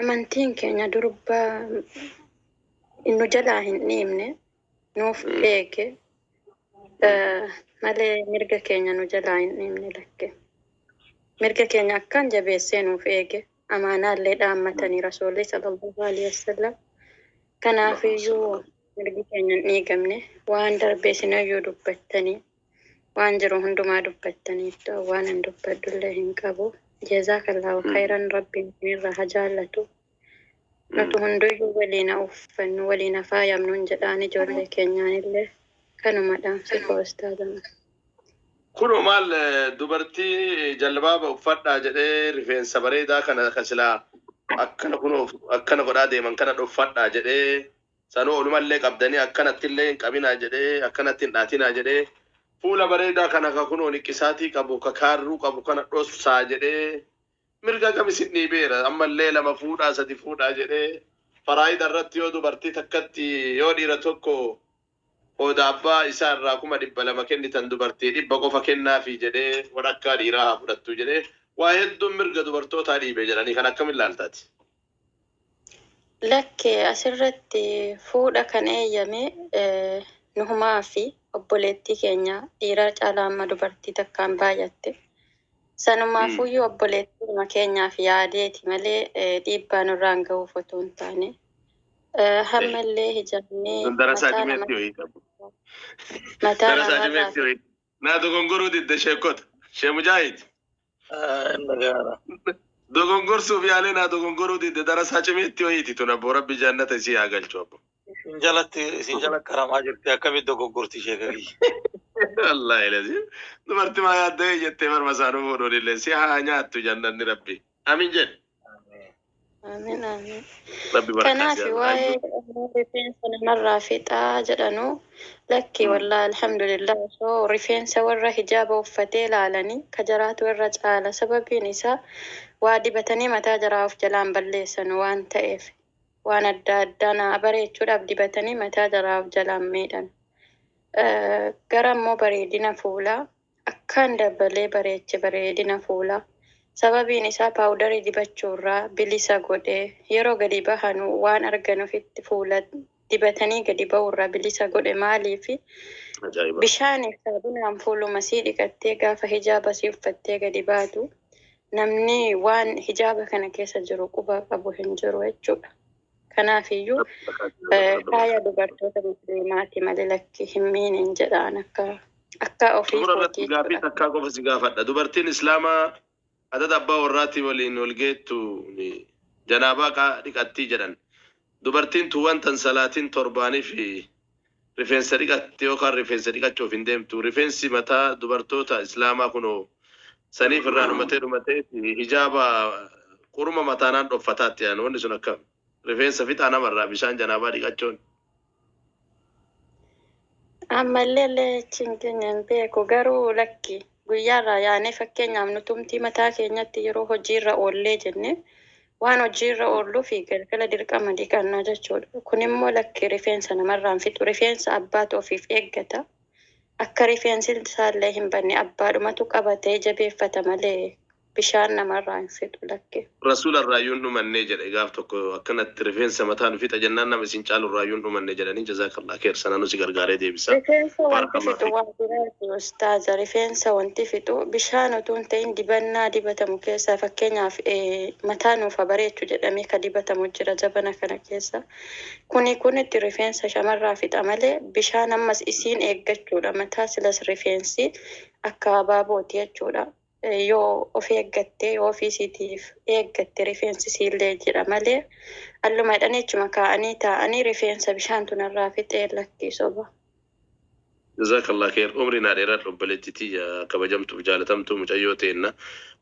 Amantiin keenya durba nu jalaa hin dhiibne, nuuf eege malee mirga keenya nu jalaa hin dhiibne lakke. Mirga keenya akkaan jabeessee nuuf eege. Amaanaallee dhaammatanii Rasuulli sallallaahu aleyhi wa sallam. Kanaafiyyuu mirgi keenya hin dhiigamne. Waan darbe isinoyyuu dubbattanii. Waan jiru hundumaa dubbattaniittu. Waan an dubbadhullee hin qabu. Jeezaakallaahu khayran rabbiin isinirraa ha jaallatu. Nutu hunduyyuu waliin ha uffannu, waliin ha faayamnuun jedhaan ijoollee keenyaanillee kanuma dhaamsi koo ustaaza. Kunoo maal dubartii jalbaaba uffadhaa jedhee rifeensa bareedaa kana ka silaa akkana kunoo akkana godhaa deeman kana dhoffadhaa jedhee Sanuu olumallee qabdanii akkanattillee hin qabinaa jedhee, akkanatti hin dhaatinaa jedhee, fuula bareedaa kana ka kunoo niqqisaatii qabu, ka kaarruu qabu kana dhossaa jedhee, mirga kam isin dhiibeera? Ammallee lama fuudhaa, sadi fuudhaa jedhee, faraa'ida irratti yoo dubartii takkatti, yoo dhiira tokko qooda abbaa isaa irraa kuma dhibba lama kennitan dubartii dhibba qofa kennaafii jedhee, wadhakkaa dhiiraa haa fudhattuu jedhee, waa hedduun mirga dubartootaa dhiibe jedhanii kana akkamiin laalta ati? Lakki asirratti fuudha kan eeyyame Nuhumaa fi obboleettii keenya dhiiraa caalaa amma dubartii takkaan baay'atte. Sanumaafuyyuu obboleettiidhuma keenyaaf yaadeeti malee dhiibbaa nurraan gahuuf otoo hin taane. Hammallee hijaabni mataa namarraa Naa dogongoruu didde sheekkota. Shee Mujaahid. Dogongorsuuf yaalee naa dogongoruu didde darasaa cimeetti wayiiti tun abboo rabbi jaannata isii haa galchu abboo. Isin jalatti isin jala qaramaa jirti akkamitti dogoggorti sheeka kiyya. Wallaahi laziim. Dubartimaa yaadda'ee jettee marma isaa nu fuudhuun illee si haa nyaattu jannanni rabbi. Amin jedhi. Amiin amiin. Rabbi barakaa Kanaaf siyaa waa'ee baay'ee. rifeensa namarraa fixaa jedhanu lakki wallaa alhamdulillah osoo rifeensa warra hijaaba uffatee laalanii ka jaraatu irra caala sababiin isaa waa dibatanii mataa jaraa of jalaan balleessanu waan ta'eef waan adda addaa naa bareechuudhaaf dibatanii mataa jaraa of jalaan miidhan. Eh, Gara immoo bareedina fuulaa akkaan dabalee bareeche bareedina fuulaa. Sababiin isaa paawudarii dibachuurraa bilisa godhe. Yeroo gadi bahanu waan argan ofitti fuula dibatanii gadi bahuurraa bilisa godhe. Maaliifi? Ajaa'iba! Bishaaniif saabunaan fuuluma sii dhiqattee gaafa hijaaba sii uffattee gadi baatu namni waan hijaaba kana keessa jiru quba qabu hin jiru jechuudha. Kanaaf iyyuu faaya dubartoota musliimaati malee lakki hin miineen jedhaan akka akka ofii Xumura irratti kootii gaaffii jechuudha. takkaa qofa si gaafadha. Dubartiin Islaamaa adada abbaa warraatii waliin wal geettu janaabaa qaa dhiqattii jedhan. Dubartiin tun wanta hin salaatiin torbaanii fi Rifeensa dhiqatti yookaan rifeensa dhiqachuuf hin deemtu. Rifeensi mataa dubartoota Islaamaa kunoo saniif irraa dhumatee dhumatee hijaaba quruma mataanaan dhoffataatti yaanu wanni sun akkam. Rifeensa fixaa namarraa bishaan janaabaa dhiqachuun. Ammallee illee achiin keenya hin beeku garuu lakki guyyaarraa yaanee fakkeenyaaf nutumtii mataa keenyatti yeroo hojiirra oollee jennee Waan hojii irra oollu fi galgala dirqama dhiqanna jechuudha. Kun immoo lakki rifeensa namarraa hin fixu. Rifeensa abbaatu ofiif eeggata. Akka rifeensi isaallee hin badne abbaadhumatu qabatee jabeeffata malee bishaan namarraa hin fixu lakki. Rasuularraayyuu hin dhumannee jedhe gaaf tokko akkanatti rifeensa mataa nu fixa jennaan nama isin caalurraayyuu hin dhumanne jedhanii jazaakallah kheer sananuu si gargaaree deebisa. Rifeensa wanti fixu Baarakallah waa fiik. biraati Xaaza, rifeensa wanti fixu bishaan otuu hin ta'in dibannaa dibatamu keessaa fakkeenyaaf mataa nuuf ha bareechu jedhamee ka dibatamu jira zabana kana keessa. Kuni kunitti rifeensa shamarraa fixa malee bishaan ammas isiin eeggachuudha mataa silas rifeensi akka abaabooti jechuudha. Yoo of eeggatte, yoo ofii isiitiif eeggatte rifeensi isiillee jiidha malee alluma jedhanii achuma kaa'anii taa'anii rifeensa bishaantu narraa fixe lakkii soba. Jazakallah kheer umrii naa dheeradhu obboleetti tiyya kabajamtuuf jaalatamtuu mucayyoo teenna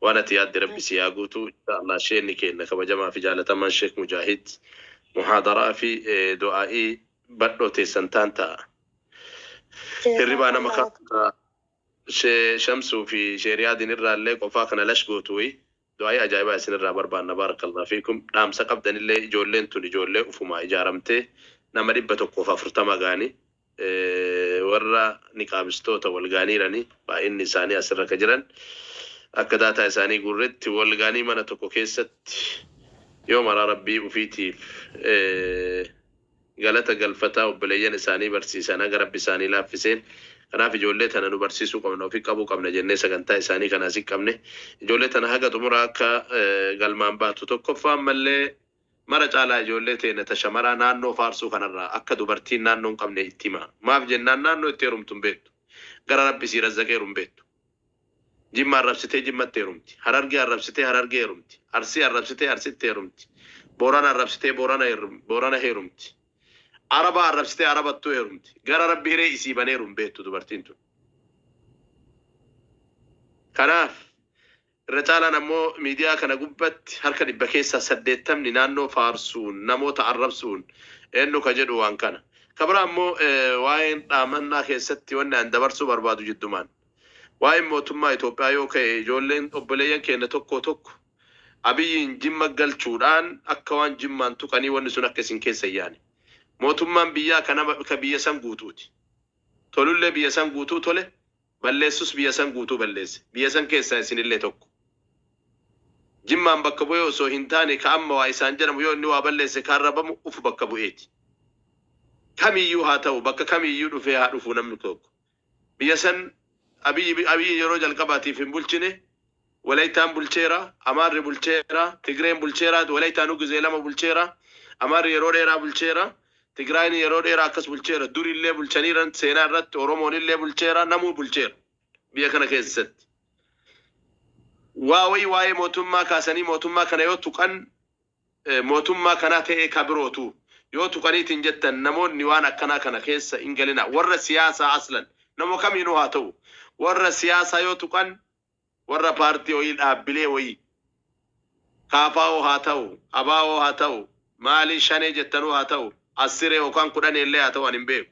waan ati yaadde rabbi sii haa guutu inshallah sheenni keenna kabajamaa fi jaalatamaan sheek mujaahid muhaadaraa fi du'aa'ii badhoo teessan taan ta'a hirribaa nama Jazakallah. kaasa She shamsu fi she riyadin irraallee qofaa kana lash gootu wly du'aa'ii ajaa'ibaa isin irraa barbaanna barakallah fiikum dhaamsa qabdanillee ijoolleen tun ijoollee ufumaa ijaaramtee nama 140 gaani warra niqaabistoota wal gaaniirani baay'inni isaanii asirra ka jiran akka daataa isaanii guurretti wal gaanii mana tokko keessatti yoo maraa rabbii ufiitiif galata galfataa obboleeyyan isaanii barsiisan haga rabbi isaanii laaffiseen kanaaf ijoollee tana nu barsiisuu qabna ofi qabuu qabna jennee sagantaa isaanii kana asi qabne ijoollee tana haga xumuraa akka galmaan baatu tokkoffaa ammallee mara caalaa ijoollee teena ta shamaraa naannoo faarsuu kanarraa akka dubartiin naannoo hin qabne itti himaa maaf jennaan naannoo itti herumtu hin beettu gara rabbi isii razzaqeeru hin beettu Jimma arrabsitee Jimmatti heerumti. Harargee arrabsitee Harargee heerumti. Arsii arrabsitee Arsitti heerumti. Boorana arrabsitee Boorana Boorana heerumti. Araba arrabsitee Arabattuu heerumti. Gara Rabbi hiree isii baneeru hin beektu dubartiin tun. Kanaaf irra caalaan ammoo miidiyaa kana gubbatti harka dhibba keessaa saddeettamni naannoo faarsuun namoota arrabsuun eenyu ka jedhu waan kana. Ka biraa ammoo waa'een dhaamannaa keessatti wanni an dabarsuu barbaadu jiddumaan. Waa'een mootummaa Itoophiyaa yoo ka'e ijoolleen obboleeyyan keenna tokkoo tokko Abiyyiin Jimma galchuudhaan akka waan Jimmaan tuqanii wanni sun akka isin keessa hin yaane. Mootummaan biyyaa ka nama ka biyya san guutuuti. Tolullee biyya san guutuu tole, balleessus biyya san guutuu balleesse. Biyya san keessaa isinillee tokko. Jimmaan bakka bu'ee osoo hin taane ka amma waa isaan jedhamu yoo inni waa balleesse ka arrabamu ufu bakka bu'eeti. Kamiyyuu haa ta'u, bakka kamiyyuu dhufee haa dhufu namni tokko. Biyya san Abiy Abiy yeroo jalqabaatiif hin bulchine. Walayitaan bulcheera, Amaarri bulcheera, Tigreen bulcheera, Walayitaanuu gizee lama bulcheera. Amaarri yeroo dheeraa bulcheera. Tigraayin yeroo dheeraa akkas bulcheera. Duri illee bulchaniiran seenaa irratti Oromoon illee bulcheera, namuu bulcheera biyya kana keessatti. Waa wayii waa'ee mootummaa kaasanii mootummaa kana yoo tuqan mootummaa kanaa ta'ee ka birootu yoo tuqaniitiin jettan namoonni waan akkanaa kana keessa in galinaa warra siyaasaa aslan nama kamiinuu haa ta'u warra siyaasaa yoo tuqan warra paartii wayii dhaabbilee wayii KFO haa ta'u abo haa ta'u maalii shanee jettanuu haa ta'u assiree yookaan kudhaneellee haa ta'u ani hin beeku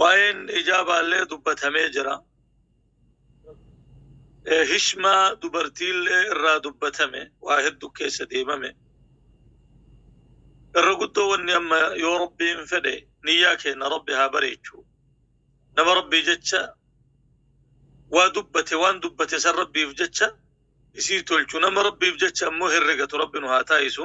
waa'een hijaabaallee dubbatamee jira Eh, hishmaa dubartiillee irraa dubbatame waa heddu keessa deemame irra guddoo wanni amma yoo rabbiin fedhe niyyaa keenya rabbi haa bareechu nama rabbii jecha waa dubbate waan dubbate san rabbiif jecha isii tolchu nama rabbiif jecha ammoo herregatu rabbi nu haa taa'isu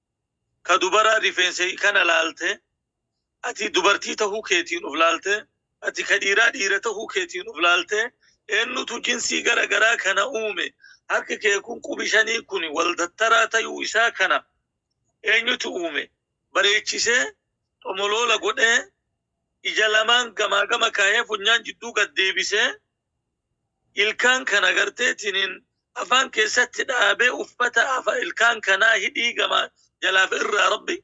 ka dubaraa rifeensa hiikana laalte, ati dubartii tahuu keetiin uf laalte, ati ka dhiiraa dhiira tahuu keetiin uf laalte, eennutu jinsii gara garaa kana uume? Harki kee kun qubi shanii kun wal dattaraa tayuu isaa kana eenyutu uume? Bareechisee, xomoloola godhee, ija lamaan gamaa gama kaahee funyaan jidduu gad deebisee, ilkaan kan agartee tinin afaan keessatti dhaabee uffata afa ilkaan kanaa hidhii gamaa jalaaf irraa rabbi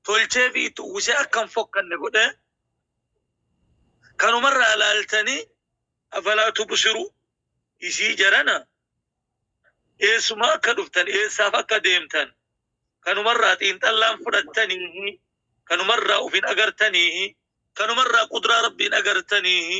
tolchee fi itti uwwisee akka hin fokkanne godhee kanumarraa ilaaltanii afalaa tubsiruu isii jarana eessuma akka dhuftan eessaaf akka deemtan kanumarraa xiinxallaan fudhattaniihi kanumarraa ufin agartaniihi kanumarraa qudraa rabbiin agartaniihi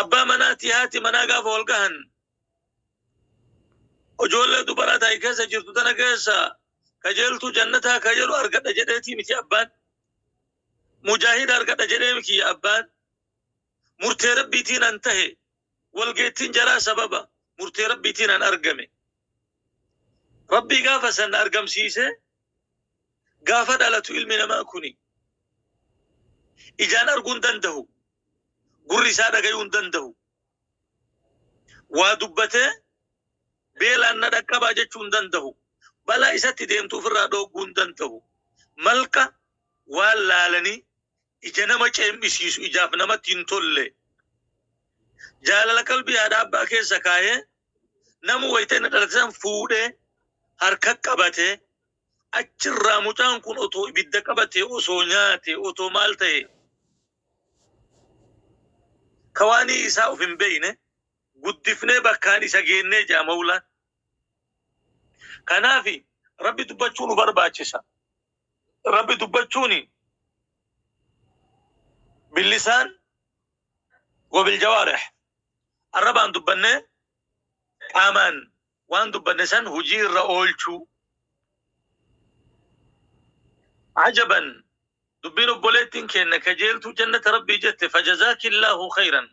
Abbaa manaa ti haati manaa gaafa wal gahan ijoollee dubaraa taa'e keessa jirtu tana keessa kajeeltuu jannataa ka jedhu argadha jedheetii miti abbaan mujaahida argadha jedhee miti abbaan murtee rabbiitiin an tahe walgeettiin jaraa sababa murtee rabbiitiin an argame rabbii gaafa san argamsiisee Gaafa dhalatu ilmi namaa kuni ijaan arguu hin danda'u, gurri isaa dhagayuu hin danda'u, waa dubbatee beelaan na dhaqqabaa jechuu hin danda'u, balaa isatti deemtu ofirraa dhoogguu hin danda'u. Malqa waan laalanii ija nama ceem'isiisu, ijaaf namatti hin tolle. Jaalala qalbii haadha abbaa keessa kaa'ee nama wayita inni dhalate san fuudhee harka qabate achirraa mucaan kun otoo ibidda qabate osoo nyaate otoo maal ta'e ka waanii isaa of hin beeyne guddifnee bakkaan isa geennee jaa mawlaan. Kanaafi rabbi dubbachuu nu barbaachisa. Rabbi dubbachuun billisaan wabiljawaarih arrabaan dubbannee qaamaan waan dubbanne san hujii irra oolchuu. Ajaban dubbiin obboleettiin keenna kajeeltuu jannata rabbii jette fajazaakillaahu khayran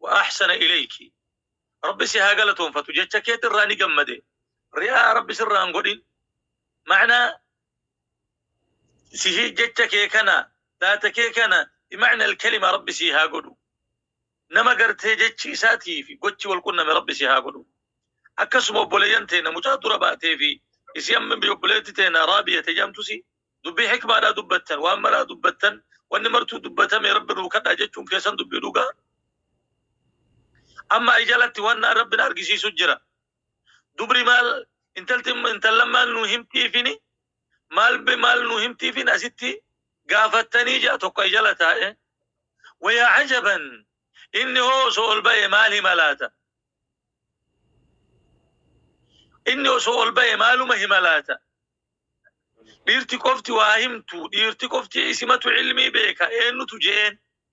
wa ahsana ilayki. Rabbi si haa galatoonfatu jecha keetirraa ni gammade. Ri'aa rabbi sirraan godhin. Ma'naa sihii jecha kee kana dhaata kee kana bimacna alkalima rabbi sii haa godhu nama gartee jechi isaatii fi gochi wal qunname rabbi sii haa godhu akkasuma obboleeyyan teena mucaa dura baatee fi isii amma bi- obboleetti teena raabiya tejamtusi dubbii hikmaadhaa dubbattan waan maraa dubbattan wanni martuu dubbatame rabbi nuu kadhaa jechuun keessan dubbii dhugaa amma ay jalatti waan na- rabbi na argisiisu jira dubri maal intalti intallan maal nu himtiifini maal be maal nu himtiifin asitti gaafattanii ja'a tokko ay jala taa'e wayaa ajaban inni hoo osoo ol ba'e maal hima laata inni osoo ol ba'e maaluma hima laata dhiirti qofti waa himtu dhiirti qofti isimatu ilmii beeka eennutu je'een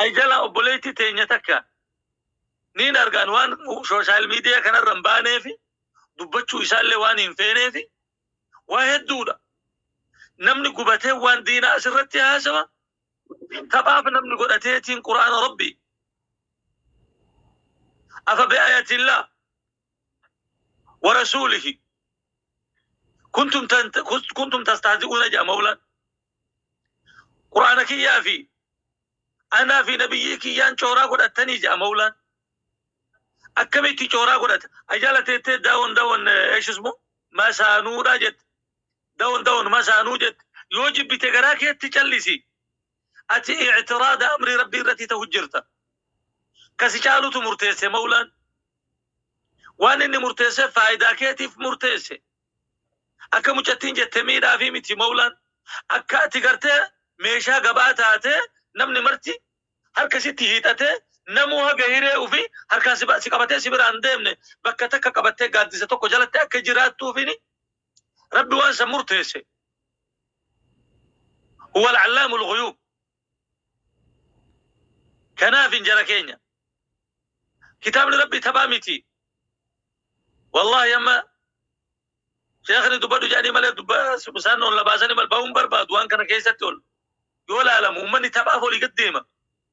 Ay jala obboleetti teenya takka niin argaan waan sooshaal miidiyaa kanarra hin baaneefi dubbachuu isaallee waan hin feeneefi waa hedduudha. Namni gubatee waan diinaa asirratti haasawa taphaaf namni godhateetiin quraana rabbii. Afa bi'aayatillaa warasuulihi kuntum tan- kus- kuntum tastahzi'uuna jedha mawlaan qur'aana kiyyaa fi anaa fi nabiyyii kiyyaan cooraa godhattanii jedha mawlaan akkamitti cooraa godhata ajala teettee daawon daawon eeshismu masaanuudhaa jette daawon daawon masaanuu jette yoo jibbite garaa keetti callisi ati i'tiraada amrii rabbii irratti ta'u jirta kasi caalutu murteesse mawlaan waan inni murteesse faayidaa keetiif murteesse akka mucattiin jette miidhaa fi miti mawlaan akka ati gartee meeshaa gabaa taatee namni marti harka sitti hiixatee namuu haga hiree ufi harkaan si ba- si qabatee si biraan deemne bakka takka qabattee gaaddisa tokko jalatti akka jiraattuufini Rabbi waan san murteesse. Huwa al-allaamu al-ghuyuub. Kanaafin jara keenya. Kitaabni Rabbi taphaa miti. Wallaahi amma sheekni dubbadhu jedhanii malee dubba isaan ol na baasanii mal bahuun barbaadu waan kana keessatti ol yoo laalamu ummanni taphaaf olii gad deema.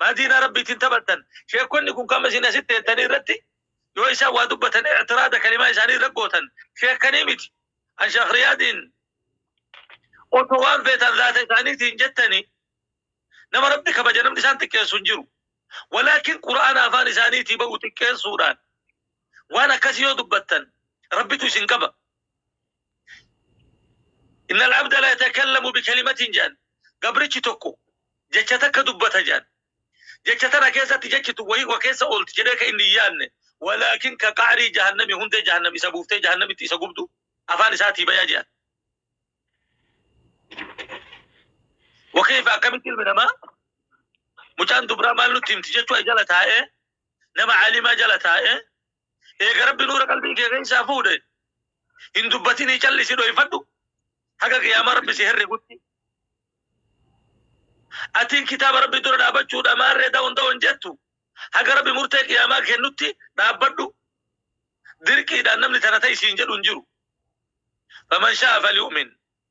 Maa diinaa Rabbii ittiin taphattan? Sheekkonni kun kama isin asitti teettanii irratti yoo isaan waa dubbatan i'tiraada kalimaa isaanii irra gootan sheekkanii miti. An Sheekh Riyaadiin osoo waan feetan zaata isaaniitiin jettanii nama Rabbi kabaja namni isaan xiqqeessu hin jiru. Walaakin Qur'aana afaan isaaniitii ba'u xiqqeessuudhaan waan akkasii yoo dubbattan Rabbitu isin qaba. Inna al-abda la yatakallamu bi kalimatin jaan. Gabrichi tokko jecha takka dubbata jaan. Jecha tana keessatti jechi tun wahii koo keessa oolti jedhee ka inni hin yaanne. Walaakin ka qa'rii jahannami hundee jahannam isa buuftee jahannamitti isa gubdu afaan isaatii baya jaan. Wa kayfa akkamitti ilmi namaa mucaan dubraa maal nutti himti jechuu jala taa'ee nama alimaa jala taa'ee Eega Rabbi nuura qalbii kee keessaa fuudhe hin dubbatinii callisi dhoyfadhu haga qiyaamaa Rabbi si herregutti. Atiin kitaaba Rabbi dura dhaabachuudha maarree da'oon da'oon jettu haga Rabbi murtee qiyaamaa kennutti dhaabbadhu. Dirqiidhaan namni tana ta'i siin jedhu hin jiru. Faman shaa'a falyu'min.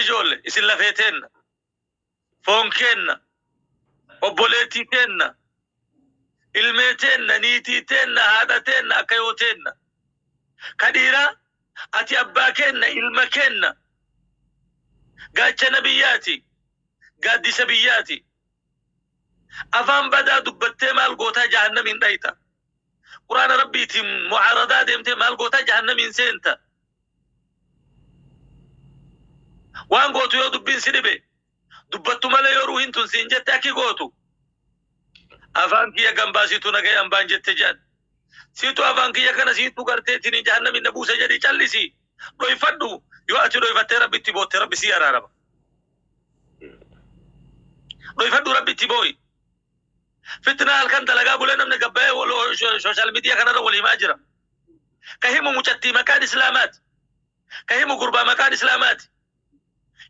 ijoolle isin lafee teenna foon keenna obboleettii teenna ilmee teenna niitii teenna haadha teenna akka yoo teenna ka dhiiraa ati abbaa keenna ilma keenna gaachana biyyaati gaaddisa biyyaati afaan badaa dubbattee maal gootaa jahannamiin dhayta Qur'aana Rabbiitiin mu'aaradaa deemtee maal goota? Jahannamiin seenta. Waan gootu yoo dubbiin si dhibe, dubbattu malee yoo ruuhiin tun siin jette akki gootu, afaan kiyya gan baasitu nagayaan baan jette jedhan. Siitu afaan kiyya kana siitu garteetiin jahannamiin na buuse jedhii callisi. Dhoyfadhu. Yoo ati dhoyfattee Rabbitti bootte Rabbi sii araarama. Dhoyfadhu Rabbitti boo'i. Fitnaa halkan dalagaa bulee namni gabbayee wal social media kanarra wal himaa jira. Ka himu mucattii maqaan islaamaati. Ka himu gurbaa maqaan islaamaati.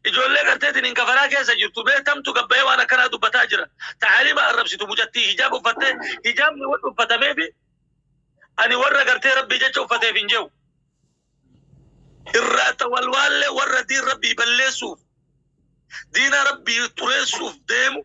Ijoollee garteetiin hin kafaraa keessa jirtu mee tamtu gabbayee waan akkanaa dubbataa jira. Ta'aalima arrabsitu mucattii hijaab uffattee hijaabni warra uffatameefi ani warra gartee rabbii jecha uffateef hin jehu. Irraata walwaallee warra diin rabbii balleessuuf diina rabbii xureessuuf deemu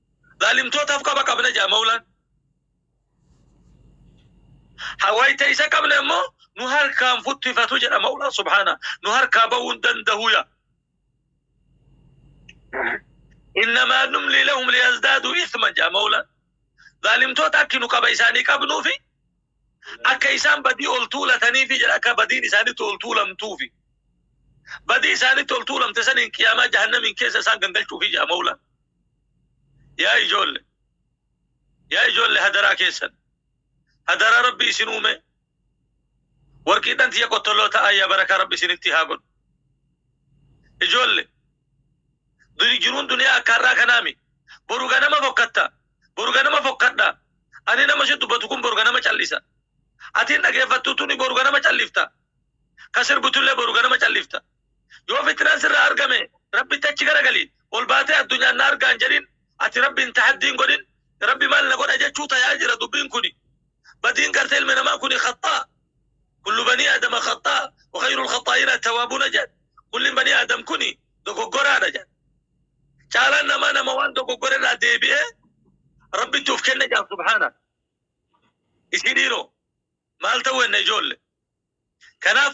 Zaalimtootaaf qaba qabna jedha Mawlaan. Ha wayta isa qabne immoo nu harkaan futtifatu jedha Mawlaan subhaana. Nu harkaa ba'uu hin danda'u yaa. Innamaa numlii lahum liyazdaaduu isman jedha Mawlaan. Zaalimtoota akki nu qaba isaanii qabnuufi akka isaan badii ol tuulataniifi jedha akka badiin isaanitti ol tuulamtuufi. Badii isaanitti ol tuulamte saniin qiyaamaa jahannamiin keessa isaan gangalchuufi jedha Mawlaan. Yaa ijoolle! Yaa ijoolle hadaraa keessan! Hadaraa Rabbii isin uumee! Warqiidhan tiyya qottolloo ta'aa yaa barakaa Rabbi isinittii haa godhu. Ijoolle! Duni jiruun duniyaa akka har'aa kanaa mi? Boru ganama fokkatta! Boru ganama fokkadha! Ani nama si dubbatu kun boru ganama callisa. Atiin dhageeffattu tuni boru ganama callifta. Ka sirbutullee boru ganama callifta. Yoo fitnaan sirraa argame Rabbitti achi garagali. Ol baatee addunyaan na argaa hin jedhin. Ati Rabbiin tahaddii hin godhin. Rabbi maal na godha jechuu tayaa jira dubbiin kuni. Badiin gartee ilmi namaa kuni khaxxaa. Kullu banii Aadama khaxxaa wa khayrul khaxxaa'iina attawaabuuna jedhan. Kulliin banii Aadam kuni dogoggoraadha jedhan. Caalaan namaa nama waan dogoggore irraa deebi'ee Rabbitti of kenne jedhan subhaana. Isin dhiiroo maal ta'uu enna ijoolle. Kanaaf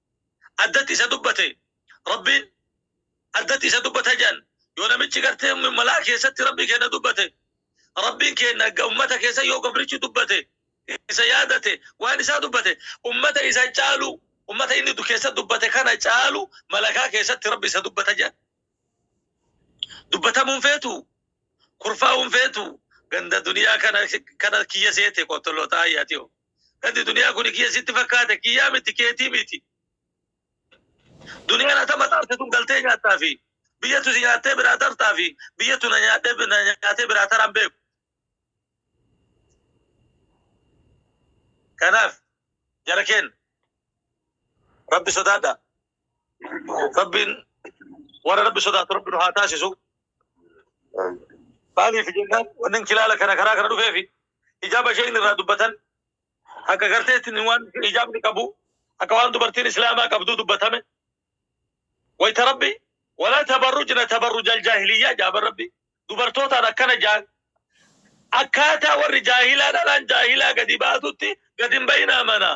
addatti isa dubbate Rabbiin addatti isa dubbata jedhan yoo namichi gartee malaa keessatti Rabbii keenna dubbate Rabbiin keenna ga- ummata keessa yoo gabrichi dubbate isa yaadate waan isaa dubbate ummata isa caalu ummata inni du- keessa dubbate kana caalu malakaa keessatti Rabbi isa dubbata jedhan dubbatamuun feetu kurfaa'uun feetu ganda duniyaa kana kana kiyya seete qottolootaa ayyaati Gadi duniyaa kuni kiyya sitti fakkaate kiyyaa miti keetii miti. Duniyaan ata maxaarte tun galtee nyaattaa fi biyyatu si nyaattee biraa tartaa fi biyyatu na nyaadhee bi- na nyaatee biraa taraan beeku. Kanaaf jara keenya rabbi sodaadha. Rabbiin warra rabbi sodaatu rabbi nu haa taasisu. Maaliif jennaan wanni kilaala kana karaa kana dhufeefi Hijaaba isheen irraa dubbatan akka garteetti waan hijaabni qabu akka waan dubartiin islaamaa qabduu dubbatame wayta rabbi walaa tabarrujna tabarrujal jaahiliyyaa jaaban rabbi dubartootaan akkana jaan akkaataa warri jaahilaa dhalaan jaahilaa gadi baatutti gadi hin bayinaa manaa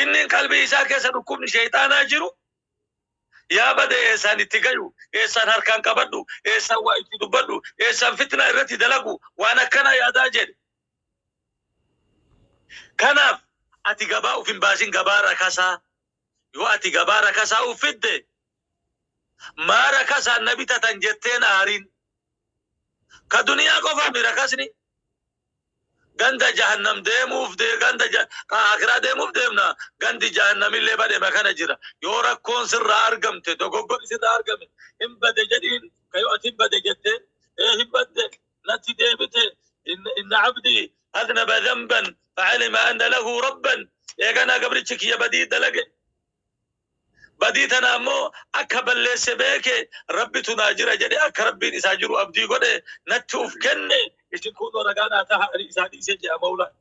Innin qalbii isaa keessa dhukkubni sheexaanaa jiru yaa bade eessaan itti gayu, eessaan harkaan qabadhu, eessaan waa itti dubbadhu, eessaan fitnaa irratti dalagu waan akkanaa yaadaa jedhe. Kanaaf ati gabaa uf hin baasin gabaa rakasaa yoo ati gabaa rakasaa uf fidde maa rakasaan na bitatan jetteen aarin. Ka duniyaa qofaami rakasni Ganda jahannam deemuuf dee ganda ja- ka akiraa deemuuf deemna gandi jahannamillee badhema kana jira yoo rakkoon sirraa argamte dogoggorri sirraa argame hin bade jedhiin ka yoo ati hin bade jette ee hin badde natti deebite in- inna abdii aznaba dhanban facalima anna lahu rabban eeganaa gabrichi kiyya badii dalage Badii tana ammoo akka balleesse beeke, Rabbitu naa jira jedhee akka Rabbiin isaa jiru abdii godhe, natti uf kenne, isin kuunnoo ragaa naa taha, ani isaa dhiise je'a mawlaan.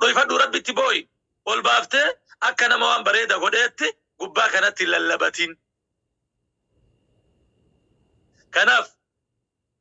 Dhoyfadhuu Rabbitti booyi, ol baaftee akka nama waan bareeda godheetti gubbaa kanatti hin lallabatin. Kanaaf.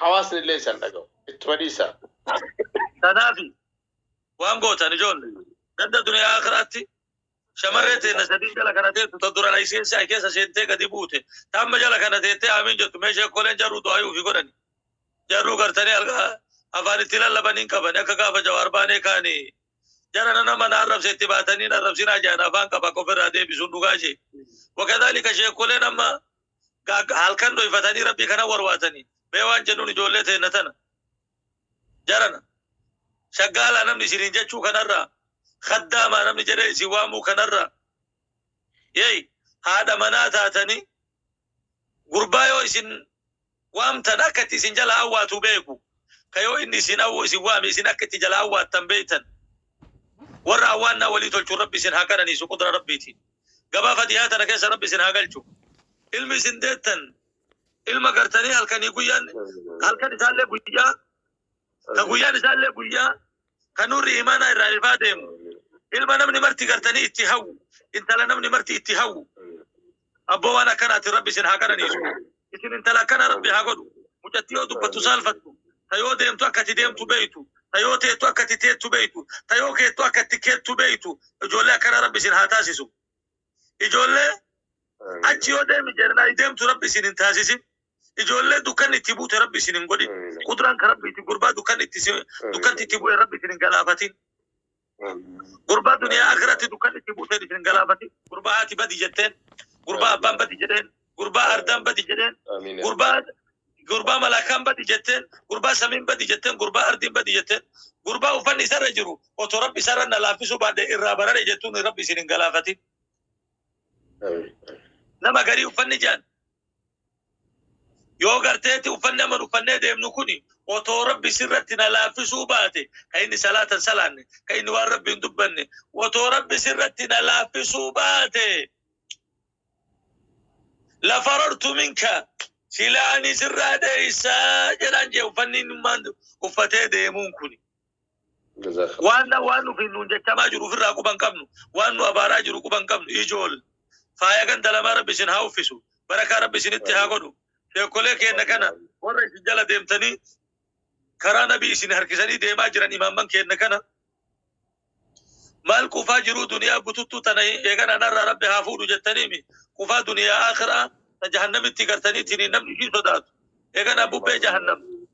Hawaasni illee isan dhaga'u. Ittuma dhiisaa. Tanaafi waan gootan ijoolle ganda duniyaa aakiraatti shamarree teenna sadiin jala kana teettu ta dura laysiin sa'i keessa seentee gadi buute ta amma jala kana teettee aamiin jettu mee sheekkoleen jarruu du'aayii ufi godhani jarruu gartanii algaa afaan itti lallaban hin qabani akka gaafa jawaar baanee kaani jarana nama na arrabse itti baatanii na arrabsinaa jedhan afaan qaba akka ofirraa deebisuun dhugaa ishee wakadhalika sheekkoleen amma halkan dhoyfatanii rabbii kana warwaatanii mee waan jennuun ijoollee teenna tana jarana shaggaalaa namni isiniin jechuu kanarraa kaddaamaa namni jedhee isin waamuu kanarraa yey haadha manaa taatanii gurbaa yoo isin waamtan akka itti isin jalaa awwaatu beeku. Ka yoo inni isin awwu isin waame isin akka itti jalaa awwaattan beektan. Warra awwaannaa walii tolchu Rabbi isin haa qananiisu qudra Rabbiitiin. Gabaa fatihaa tana keessa Rabbi isin haa galchu. Ilmi isin deettan ilma gartanii halkanii guyyaan halkan isaallee guyyaa ka guyyaan isaallee guyyaa ka nurri imaanaa irraa ifaa deemu. Ilma namni marti gartanii itti hawwu. Intala namni marti itti hawwu. Abboo waan akkanaatiin rabbi isin haa qananiisu. Isin intala akkana rabbi haa godhu. Mucatti yoo dubbattu saalfattu, ta yoo deemtu akka itti deemtu beeytu, ta yoo teettu akka itti teettu beeytu, ta yoo keettu akka itti keettu beeytu ijoollee akkana rabbi isin haa taasisu. Ijoollee achi yoo deemi jennaa deemtu rabbi isin hin taasisin. Ijoollee dukkanni itti buute rabbi isin hin godhin. Qudraan ka rabbi itti gurbaa dukkanni itti isin- dukkanti itti bu'e rabbi isin hin galaafatin. Gurbaa duniyaa akhiratti dukkan itti buuteen isin galaafati. Gurbaa haati badi jetteen. Gurbaa abbaan badi jedheen. Gurbaa ardaan badi jedheen. Amiin. Gurbaa gurbaa malaakaan badi jetteen. Gurbaa samiin badi jetteen. Gurbaa ardiin badi jetteen. Gurbaa uffanni isarra jiru otoo rabbi isarra na laaffisuu baadhe irraa barare jettuun rabbi isin hin galaafatin. Amiin. Nama garii uffanni jaan Yoo garteetti uffanni aman uffannee deemnu kuni otoo Rabbi sirratti na laaffisuu baate, ka inni salaata hin salaanne, ka inni waan Rabbi hin dubbanne, otoo Rabbi sirratti na laaffisuu baate, lafarartu minka, silaa ani sirraa dheeysa jedhaan jee uffanni innummaan uffatee deemuun kuni. Jazakallah. Waan na waan nufi nuun jechamaa jiru ofirraa quban qabnu. Waan nu abaaraa jiru quban qabnu. Ijool. Faaya ganda lamaa rabbi isin haa uffisu. Barakaa rabbi isinitti haa godhu. Sheekolee keenna kana warra isin jala deemtanii karaa nabii isin harkisanii deemaa jiran imaamman keenna kana maal qufaa jiruu duniyaa bututtuu tana eegan anarraa rabbi haa fuudhu jettaniimi qufaa duniyaa akiraa ta jahannamitti gartaniitiin namni ishii sodaatu eegan abbubbee jahannam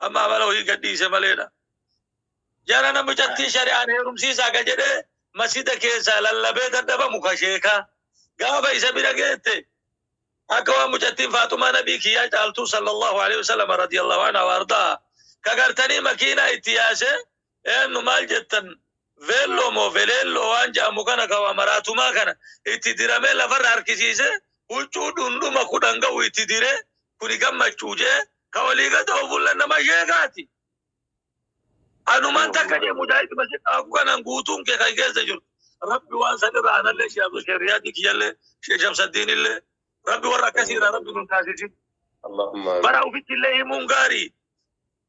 Amma amala ofii gadhiise maleedha. Jara na mucattii shari'aan heerumsiisaa ka jedhee masjida keessaa lallabee dadhabamu ka sheekaa. Gaafa isa bira geette akka waan mucattiin Faaxumaa Nabii kiyyaa caaltuu sallallahu alaihi wasallam radiyallahu anha waardaa ka gartanii makiinaa itti yaasee Eennu maal jettan veelloo moo veleelloo waan ja'amu kana ka waa maraatumaa kana itti diramee lafarra harkisiisee huccuu dhundhuma kudhan ga'u itti diree kuni gammachuu jee ka olii gad oofulla nama sheekaati. Anuman takka jee mujaahiduma si dhaaku kanan guutuun kee kan keessa jiru rabbi waan san irra anallee shee abdu shee riyaadii kiyyallee shee shamsaddiinillee rabbi warra akkasii irraa rabbi nun taasisin. Allahumma bara amiin. ufittillee himuun gaarii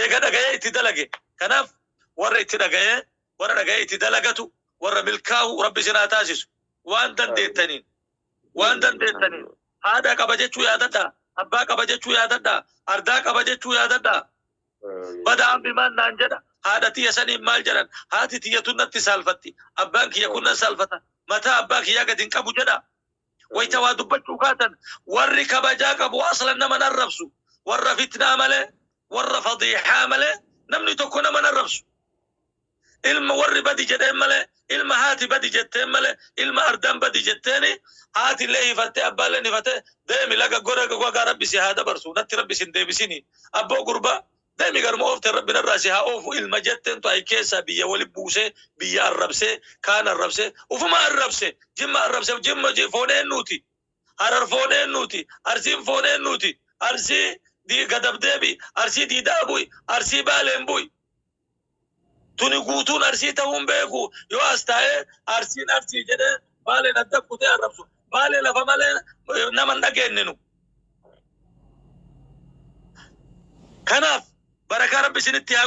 Eega dhagayee itti dalage. Kanaaf warra itti dhagayee warra dhagayee itti dalagatu warra milkaahu rabbi isin haa taasisu. Waan dandeettaniin waan dandeettaniin haadha qaba jechuu yaadadhaa, abbaa qaba jechuu yaadadhaa, ardaa qaba jechuu yaadadhaa. Bada ammi maal naan jedha, haadha tiyya saniin maal jedhan, haati tiyya tun natti saalfatti, abbaan kiyya kun nan saalfata, mataa abbaa kiyyaa gad hin qabu jedhaa. Wayta waa dubbachuu kaatan warri kabajaa qabu aslan nama hin arrabsu. Warra fitnaa malee, warra fadiixaa malee namni tokko nama hin arrabsu. Ilma warri badi jedheen malee, ilma haati badi jetteen malee, ilma ardaan badi jetteeni haati illee hifattee abbaa illeen hifatee deemi laga gora wagaa rabbi si haa dabarsu natti rabbi sin deebisini abboo gurbaa Demi garuma oofte rabbi narraa si haa oofu ilma jettentu ayi keessaa biyya wali buusee biyya arrabsee kaan arrabsee ufuma arrabse jimma arrabse jimma ji foon eennuuti harar foon eennuuti arsiin foon eennuuti arsii di gadab deebi arsii diidaa bu'i arsii baaleen bu'i Tuni guutuun Arsii tahuu hin beeku. Yoo as taa'ee Arsiin Arsii jedhee Baaleen adda kutee arrabsu. Baalee lafa malee nama hin dhageenne nu. Kanaaf barakaa Rabbi isinitti haa